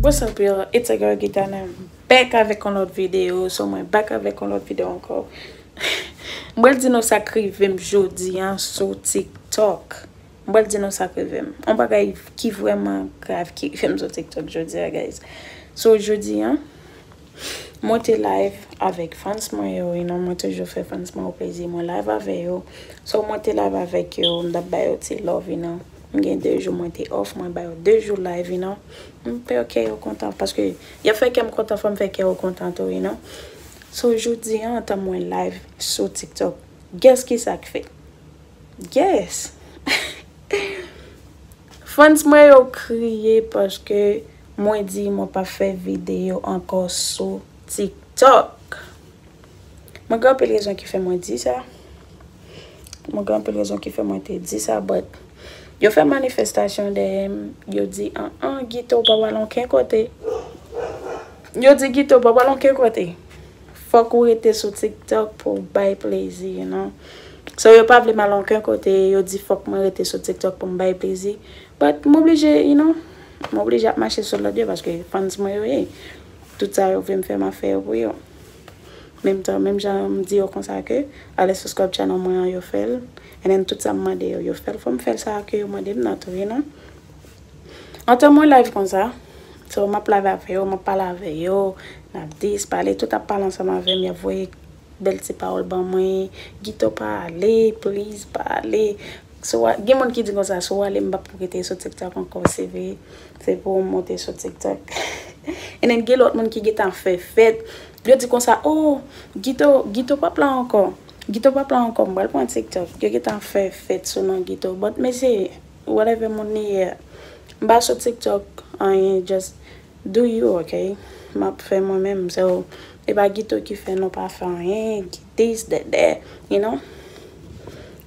What's up y'all, it's a girl Gita and I'm back avèk yon lòt videyo, so mwen back avèk yon lòt videyo ankò. Mwen di nou sa k rivem jodi an sou TikTok. M pral di nou sak rive m. On bagay ki vrèman grav ki rive m sou tiktok jodi a guys. So jodi an mwen te live avèk fans mwen yo you know mwen toujou fè fans mwen yo plezi mwen live avè yo. So mwen te live avèk yo m tap ba yo ti love you know. M gen 2 jou mwen te off mwen ba yo 2 jou live you know. M fè kè yo kontan paske yap fè kè m kontan fò m fè kè yo kontan tou you know. So jodi an antan mwen live sou tiktok guess kisak fè? Yes! Fans mwen yo kriye paske mwen di mwen pap fè videyo ankò sou TikTok. Mwen gen anpil rezon ki fè mwen di sa. Mwen gen anpil rezon ki fè mwen te di sa but yo fè manifestasyon dèyè m, yo di an an Gito ou pap al anken kote. Yo di Gito ou pap al anken kote. Fok ou rete sou tiktok pou w bay plezi you know so yo pa vle m al onken kote yo di fok mwen rete sou tiktok pou m bay plezi but m oblije you know m oblije ap mache sou lod yo paske fans mwen yo ye tout sa yo vle m fè ma fè yo pou yo menm tan menm jan m di yo konsa ke ale subscribe channel mwen an yo fè l and then tout sa m mande yo yo fè l fò m fè l sa ke yo mande m nan tou you know. Antan mwen live konsa, so map live avè yo, map pale avè yo, nap dis, pale, tout ap pale ansanm avè m, yap voye bèl ti pawòl ban mwen, Gito pa ale, please pa ale, si w a, gen moun ki di konsa, si w ale m pap rete sou tiktok ankò, se vre, se pou w monte sou tiktok, and then gen lòt moun ki gen tan fè fèt, yo di konsa, oh, Gito, Gito pap la ankò, Gito pap la ankò, m pral pran tiktok, yo gen tan fè fèt sou non Gito, but mesye. Whatever moun li ye. M pa sou tiktok anyen just do you ok map fè mwen menm so e pa gito ki fè nou pa fè anyen ki this that that you know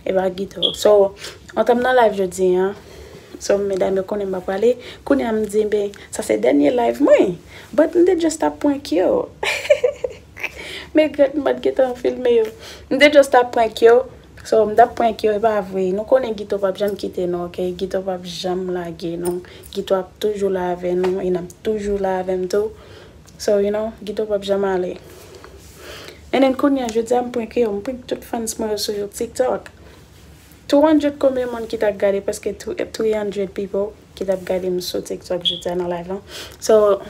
e pa gito so an tanm nan live jodi an so medam yo konnen m pa prale kounye a m di be sa se dènye live mwen but m te just ap prank yo heheheh m egret m pat gentan filme yo m te just ap prank yo So mtap prank yo epa vre. Nou konnen gito pap janm kite nou ok gito pap janm lage nou gito ap toujou la avè nou e nap toujou la avèm tou so you know gito pap janm ale and then kounya jodia m prank yo m prank tout fans mwen yo sou tiktok 200 konbyen moun ki ta gade paske 300 people. ki tap gadem sou tiktok jodia nan live lan so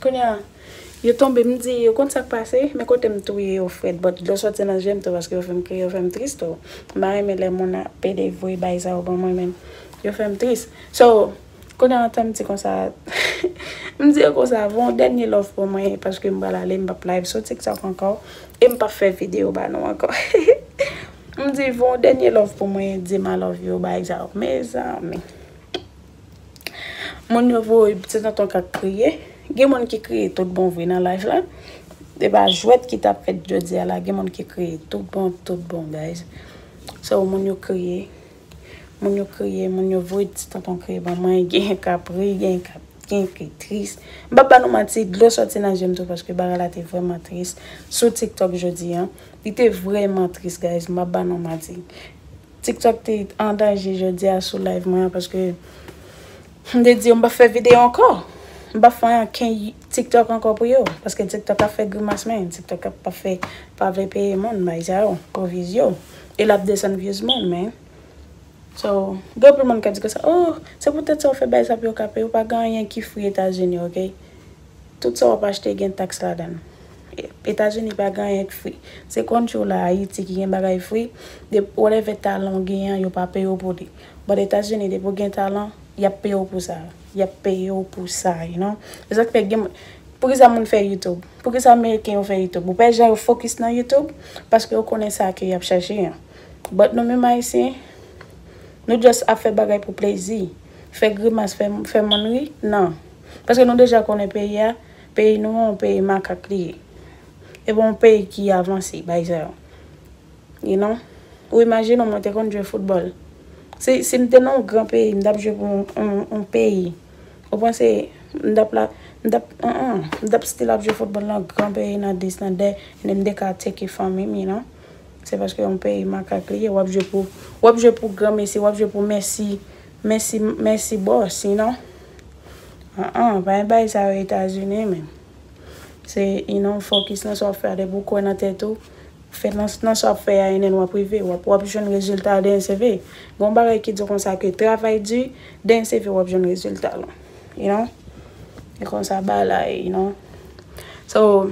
kounya yo tonbe m di yo konn sak pase men kotem touye yo frèt but dlo soti nan jem tou paske yo fèm kriye yo fèm tris tou m pa renmen lè moun ap pede voye baay sa yo ban mwen men yo fèm tris so kounya antan m di konsa m di yo konsa voye yon dènye love pou mwen paske m pral ale m pap live sou tiktok ankò e m pap fè video ba nou ankò hehe m di voye yon dènye love pou mwen dim I love you baay sa yo mezanmi. Moun yo voye ti tonton kak kriye. Gen moun ki kriye tout bon vre nan live la. E pa jwèt ki tap fèt jodi a la. Gen moun ki kriye tout bon, tout bon guys. So moun yo kriye. Moun yo kriye, moun yo voye ti tonton kriye ban mwen. Gen yon kap ri, gen yon kap, gen yon ki tris. M pap ba nou manti, dlo soti nan je m tou paske bagay la te vreman tris. Sou TikTok jodi an. Li te vreman tris guys, m pap ba nou manti. Tiktok te an danje jodi a sou live mwen an paske m te di yo m pap fè videyo ankò. M pap fè anken Tiktok ankò pou yo paske Tiktok ap fè grimas men Tiktok ap pa fè pa vle peye moun bay sa yo pou views yo e lap desann views moun men So gen anpil moun k ap di konsa oh se poutèt sa ou fè bay sa pou yo ka peye ou pa gen anyen ki free Etazini ok tout sa w ap achte gen tax ladan l. Etazini pa gen anyen k fri. Se country w la Ayiti ki gen bagay fri. Dep whatever talan w gen an yo pa peye w pou li. But Etazini depi w gen talan yap peye w pou sa. Yap peye w pou sa you know. Se sak fè gen moun Poukisa moun fè YouTube? Poukisa ameriken yo fè YouTube? Ou pa wè jan yo focus nan YouTube? Paske yo konnen sa ke yap chache an. But nou menm ayisyen Nou just ap fè bagay pou plezi. Fè grimas fè fè moun ri nan. Paske nou deja konnen peyi a. Peyi nou an yon peyi makak li ye. E pa yon peyi ki avanse bay sa yo. You know? Ou imajine w mwen te konn jwe foutbòl. Si si m te nan yon gran peyi, m t ap jwe pou yon peyi. Ou panse m t ap la, m t ap an an, m t ap still ap jwe foutbòl nan gran peyi, nan dis, nan dat, and then m te ka teke fanmi m, you know? Se paske yon peyi makak li ye. W ap jwe pou, w ap jwe pou granmesi, w ap jwe pou mèsi. Mèsi mèsi boo sinon an an pa gen bagay sa yo etazini men se you know fokis nan sa wap fè a depi ou kwè nan tèt ou ou fè nan nan sa wap fè a enen wap rive wap wap jwenn rezilta a den seve gon bagay ki di konsa ke travay di den seve wap jwenn rezilta l you know e konsa ba la ye you know so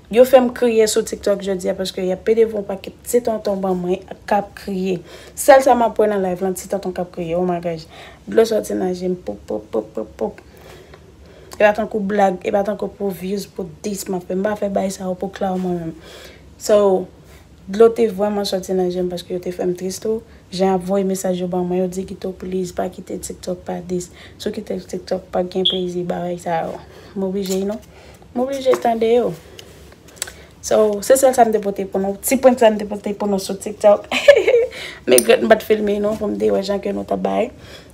Yo fèm kriye sou tiktok jodia paske yap pede pou yon pakèt ti tonton ban mwen kap kriye sèl sa map wè nan live lan ti tonton kap kriye oh my gosh dlo sòti nan jem poup poup poup poup poup epa tankou blag epa tankou pou views pou this map fè mpa fè bay sa yo pou clout mwen menm so dlo te vrèman sòti nan jem paske yo te fèm triste oh jan yap voye mesaj yo ban mwen yo Dieguito please pa kite tiktok pa this sou kitel tiktok pap gen plezi bagay sa yo moblije you know M oblije tande yo. So, se sèl sa m te pote pou nou. Ti prank sa m te pote pou nou sou TikTok. M egrèt m pa t filme nou pou m te wè jan ke nou t ap bay.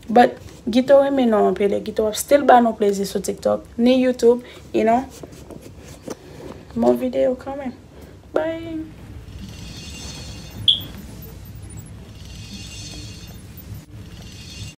But, Gito renmen nou anpil e Gito ap still ba nou plezi sou TikTok, ni YouTube, you know. Bon videyo kanmenm. Bye!